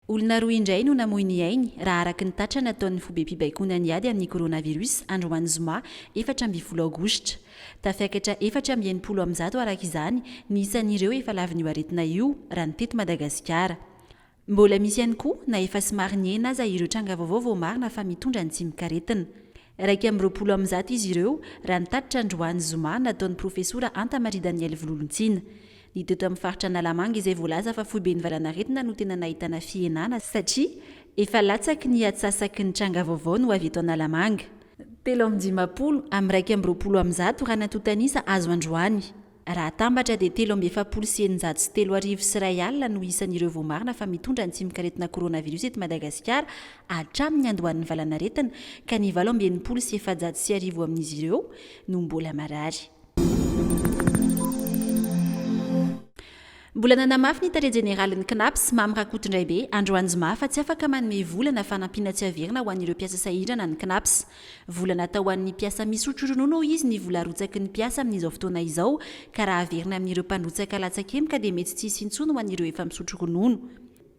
Olona roa indray no namoy ny ainy, raha araka ny tatra nataon'ny fobem-pibaikoana ny ady amin'ny coronavirus androany zoma efatra ambin'ny folo aogositra. Tafiakatra efatra amby enimpolo amin'ny zato araka izany ny isan'ireo efa lavin'io aretina io raha ny teto Madagasikara. Mbola misy ihany koa na efa somary nihena aza ireo tranga vaovao vao marina fa mitondra ny tsimokaretina. Iraika amby roapolo amin'ny zato izy ireo, raha ny tatitra androany zoma nataon'ny profesora Anta Maria Danielle Vololontsina. Ny teto amin'ny faritra Analamanga izay voalaza fa foiben'ny valanaretina no tena nahitana fihenana satria efa latsaky ny atsasaky ny tranga vaovao no avy eto Analamanga. Telo amby dimampolo amin'ny iraika amby roapolo amin'ny zato raha ny antontanisa azo androany. Raha atambatra dia telo amby efapolo sy eninjato sy telo arivo sy iray alina no isan'ireo voamarina fa mitondra ny tsimokaretina coronavirus eto Madagasikara hatramin'ny niandohan'ny valanaretina ka ny valo amby enimpolo sy efajato sy arivo amin'izy ireo no mbola marary. Mbola nanamafy ny tale jeneralin'ny Cnaps, Mamy Rakotondraibe, androany zoma fa tsy afaka manome vola na fanampiana tsy averina ho an'ireo mpiasa sahirana ny Cnaps. Vola natao ho an'ny mpiasa misotro ronono hoy izy ny vola arotsaky ny mpiasa amin'izao fotoana izao ka raha averina amin'ireo mpandrotsaka latsakemboka dia mety tsy hisy intsony ho an'ireo efa misotro ronono.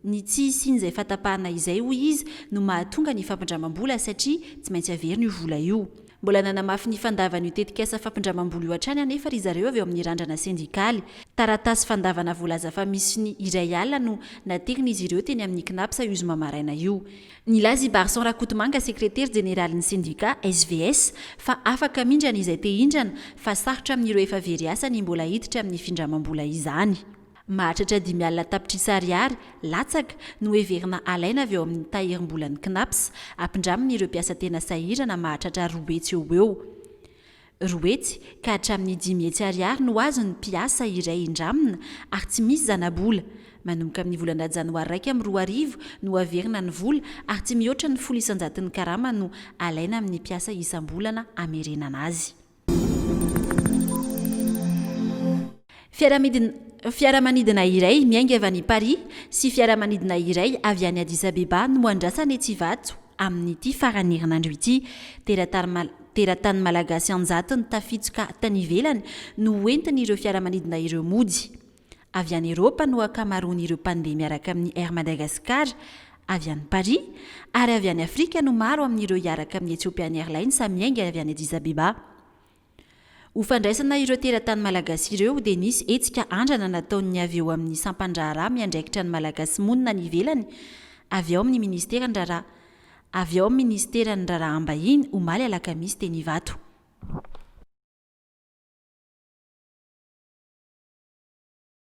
Ny tsy hisian'izay fatapahana izay hoy izy no mahatonga ny fampindramam-bola satria tsy maintsy averina io vola io. Mbola nanamafy ny fandavan'io tetikasa fampindramam-bola io hatrany anefa ry zareo avy ao amin'ny Randrana Sendikaly. Taratasy fandavana voalaza fa misy ny iray alina no naterin'izy ireo teny amin'ny Cnaps io zoma maraina io. Nilaza i Barson Rakotomanga, sekretera jeneralin'ny sendika SVS, fa afaka mindrana izay te hindrana fa sarotra amin'ireo efa very asa ny mbola hiditra amin'ny findramam-bola izany. Mahatratra dimy alina tapitrisa ariary, latsaka, no heverina alaina avy ao amin'ny tahirim-bolan'ny Cnaps, ampindramin'ireo mpiasa tena sahirana mahatratra roa hetsy eo ho eo. roa hetsy ka hatramin'ny dimy hetsy ariary no azon'ny mpiasa iray indramina ary tsy misy zanabola. Manomboka amin'ny volana janoary iraika amby roa arivo no averina ny vola ary tsy mihoatra ny folo isan-jaton'ny karama no alaina amin'ny mpiasa isam-bolana hamerenana azy. Fiaramanidina Fiaramanidina iray miainga avy any Paris sy fiaramanidina iray avy any Addis Abeba no andrasana etsy Ivato amin'ity faran'ny herinandro ity. Teratany Teratany malagasy an-jatony tafitsoka tany ivelany no hoentin'ireo fiaramanidina ireo mody. Avy any Eropa no ankamaroan'ireo mpandeha miaraka amin'ny Air Madagascar avy any Paris ary avy any Afrika no maro amin'ireo hiaraka amin'ny Ethiopian Airlines miainga avy any Addis Abeba. Ho fandraisana ireo teratany malagasy ireo dia nisy hetsika andrana nataon'ny avy eo amin'ny sampan-draharaha miandraikitra ny Malagasy monina any ivelany avy ao amin'ny Ministeran'ny raharaha avy ao amin'ny Minisiteran'ny raharaham-bahiny omaly alakamisy teny Ivato.